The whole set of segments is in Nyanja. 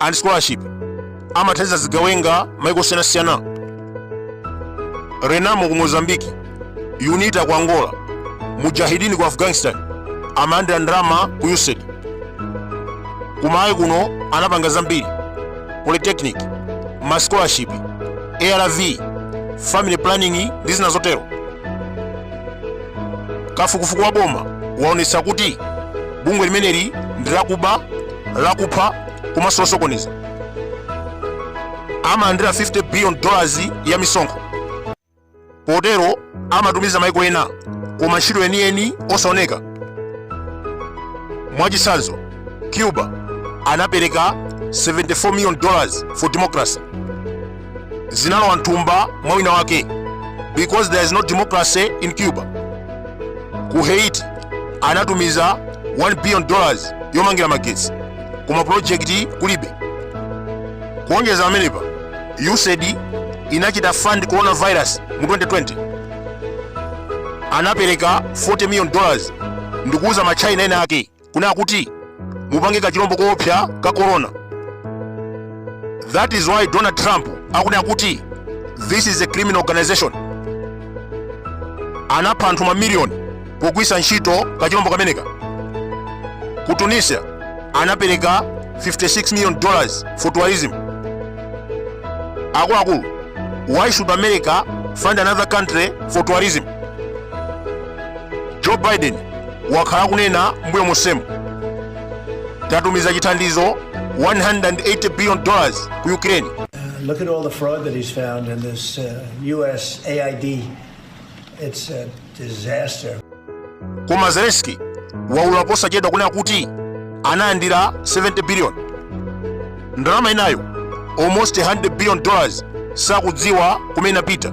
and scholarship amathandiza zigawenga maiko osiyanasiyana renamo ku mozambiki unita ku angola mujahidini ku afghanistan amalandira ndalama ku usaid ku malawi kuno anapanga zambiri polytechnic ma scholarship arv family planning ndi zina zotero kafukufuku wa boma waonetsa kuti bungwe limeneli ndi lakuba lakupha komanso losokoneza amalandira 50 billion dollars ya misonkho potero amatumiza maiko ena koma ntchito yeniyeni osaoneka mwachitsanzo cuba anapereka 74 million dollars for democracy zinalowa mthumba mwa wina wake because there is no democracy in cuba ku haiti anatumiza 1 billion dollars yomangira magetsi koma project kulibe kuonjeza pamenepa usaid inachita fund coronavirus mu 2020 anapereka 40 million dollars ndikuuza ma china ena ake kunena kuti mupange kachilombo koopsa ka corona that is why donald trump akunena kuti this is a criminal organization anapha anthu mamiliyoni pogwisa ntchito kachilombo kameneka ku tunisia anapereka 56 million dollars for tourism akuluakulu why should america fund another country for tourism joe biden wakhala akunena mbuyo monsemu tatumiza chithandizo 180 billion dollars ku ukraine Look at all the fraud that he's found in this uh, U.S. AID. It's a disaster. koma zelensky waulula posachedwa kunena kuti analandira 70 billion ndalama inayo almost 100 billion dollars sakudziwa kumene inapita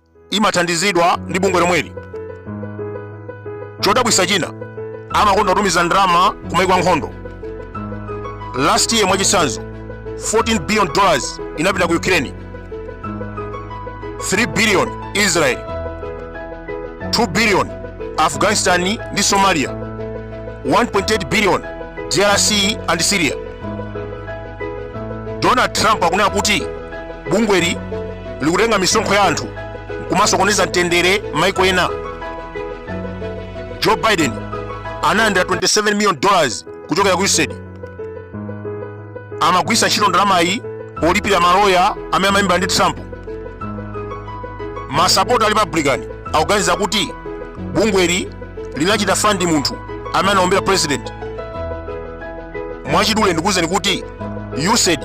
imathandizidwa ndi bungwe lomweli chodabwisa china amakonda kutumiza ndalama kumaiko ankhondo last year mwachitsanzo 14 billion dollars inapita ku ukraine 3 billion israel 2 billion afghanistan ndi somalia 1.8 billion drc and syria donald trump akunena kuti bungweli likutenga misonkho ya anthu nkumasokoneza mtendere maiko ena joe biden analandira 27 million dollars kuchokera ku usaid amagwisa ntchito ndalamayi polipira maloya amene amalimbana ndi trump masapota a republican akuganiza kuti bungweli linachita fund munthu amene anaombera president mwachidule ndikuwuzeni kuti usaid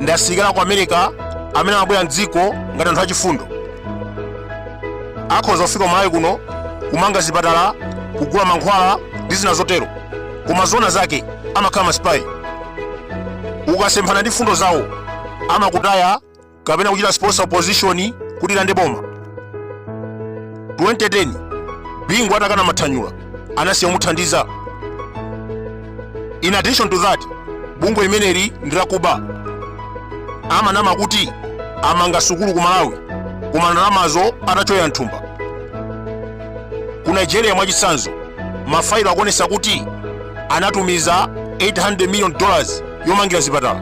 ndi asilikali aku america amene amabwera mdziko ngati anthu achifundo akhoza kufika kumalawi kuno kumanga zipatala kugula mankhwala ndi zina zotero koma zona zake amakhala masipayi ukasemphana ndi mfundo zawo amakutaya kapena kuchita sponsor opposition kuti ilande boma 2010 bingu atakana mathanyula anasiya kumuthandiza in addition to that bungwe limeneli ndi lakuba amanama kuti amanga sukulu ku malawi koma ndalamazo atacholowa mthumba ku nigeria mwachitsanzo mafailo akuonesa kuti anatumiza 800 million dollars yomangira zipatala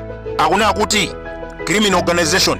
akunena kuti criminal organization